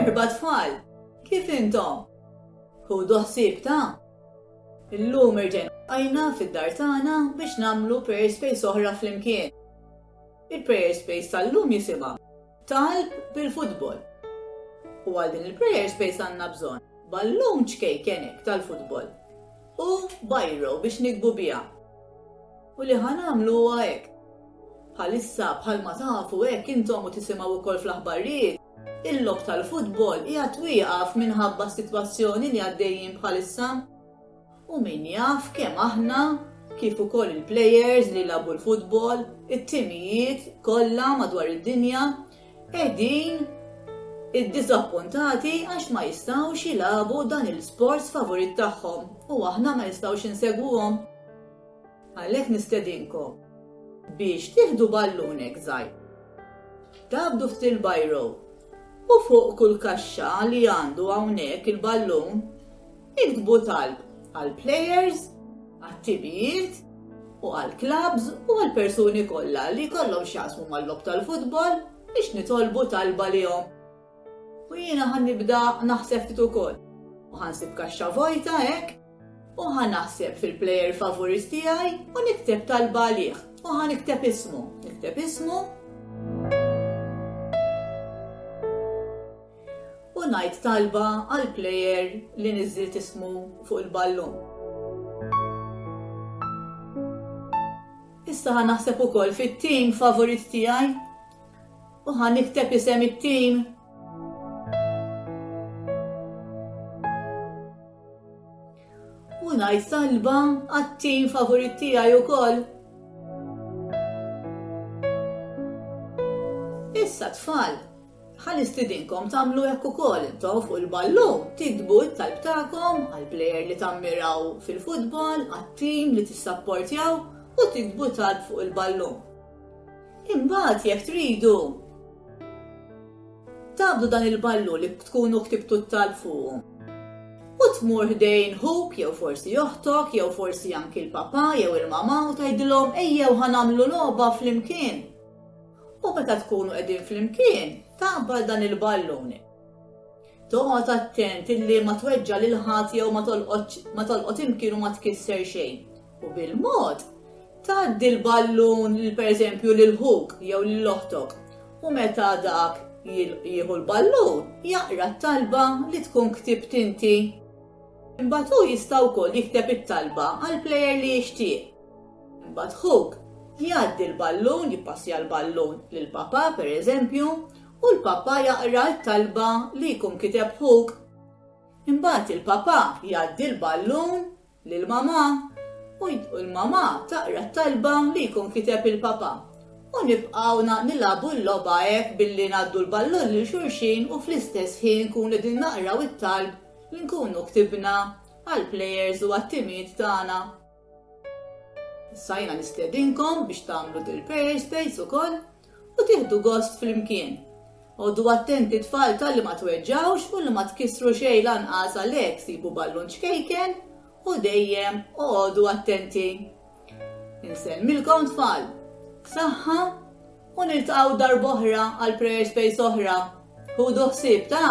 Merħba tfal! Kif intom? Ħudu ħsieb ta'? Illum irġajna ltqajna fid-dar tagħna biex nagħmlu prayer space oħra flimkien. Il-prayer space tal-lum jisimha Talb bil-futbol. U għal din il-prayer space għandna bżonn ballun ċkejkenek tal-futbol. U biro biex niktbu biha. U li ħa nagħmlu huwa hekk. Bħalissa, bħalma tafu hekk intom u tisimgħu wkoll fl-aħbarrijiet, il-logħob tal-futbol qiegħed wieqaf minħabba s-sitwazzjoni li għaddejjin bħalissa. U min jaf kemm aħna, kif ukoll il-plejers li jilagħbu l-futbol, it-timijiet kollha madwar id-dinja, qegħdin iddiżappuntati għax ma jistgħux jilagħbu dan il-sport sfavurit tagħhom u aħna ma nistgħux insegwuhom. Għalhekk nistedinkom biex tieħdu ballunek żgħir, tgħabbdu ftit il-biro u fuq kull kaxxa li għandu hawnhekk il-ballun Iktbu talb għall-plejers, għat-timijiet u għall-klabbs u għall-persuni kollha li jkollhom x'jaqsmu mal-logħob tal-futbol biex nitolbu talba lihom. U jiena ħa nibda naħseb ftit ukoll. U ħa nsib kaxxa vojta hekk u ħa naħseb fil-plejer favorist tiegħi u nikteb talba għalih u ħa nikteb ismu. Nikteb ismu U ngħid talba għall-player li niżżilt ismu fuq il-ballun. Issa ħa naħseb ukoll fit-tim favorit tiegħi u ħa nikteb isem it-tim ngħid salba għat-tim favorit tiegħi wkoll. Issa tfal, Ħa nistidinkom tagħmlu hekk ukoll intom fuq il-ballun, tiktbu t-talb tagħkom għall-plejer li tammiraw fil-futbol, għat-tim li tissapportjaw u tiktbu talb fuq il-ballun. Imbagħad jekk tridu, tagħbdu dan il-ballun li tkunu ktibtu t-talb fuqu u tmur ħdejn ħuk jew forsi oħtok jew forsi anki l-papa jew il-mama u tgħidilhom ejjew ħa nagħmlu logħba flimkien. U meta tkunu qegħdin flimkien, taqbad dan il-ballun. Toqgħod attent illi ma tweġġa' lil ħadd jew ma tolqot imkien u ma tkisser xejn. U bil-mod, tgħaddi l-ballun lil pereżempju lil ħuk jew lil oħtok u meta dak jieħu l-ballun jaqra t-talba li tkun ktibt inti. Imbagħad hu jista' wkoll jikteb it-talba għall-plejer li jixtieq. Imbagħad ħuk jgħaddi l-ballun, jippassja l-ballun lil papà, pereżempju, u l-papà jaqra t-talba li jkun kiteb ħuk. Imbagħad il-papà jgħaddi l-ballun lil mamà u l-mamà taqra t-talba li jkun kiteb il-papà. U nibqgħu nilagħbu l-logħba hekk billi ngħaddu l-ballun lil xulxin u fl-istess ħin nkunu qegħdin naqraw it-talb li nkunu ktibna għall-plejers u għat-timiet tagħna. Issa jiena nistedinkom biex tagħmlu the prayer space ukoll u tieħdu gost flimkien. Għodu attenti tfal talli ma tweġġgħux u li ma tkissru xejn lanqas għalhekk sibu ballun ċkejken u dejjem oqogħdu attenti. Insellmilkom tfal. Saħħa u niltaqgħu darb'oħra għal prayer space oħra. Ħudu ħsieb ta'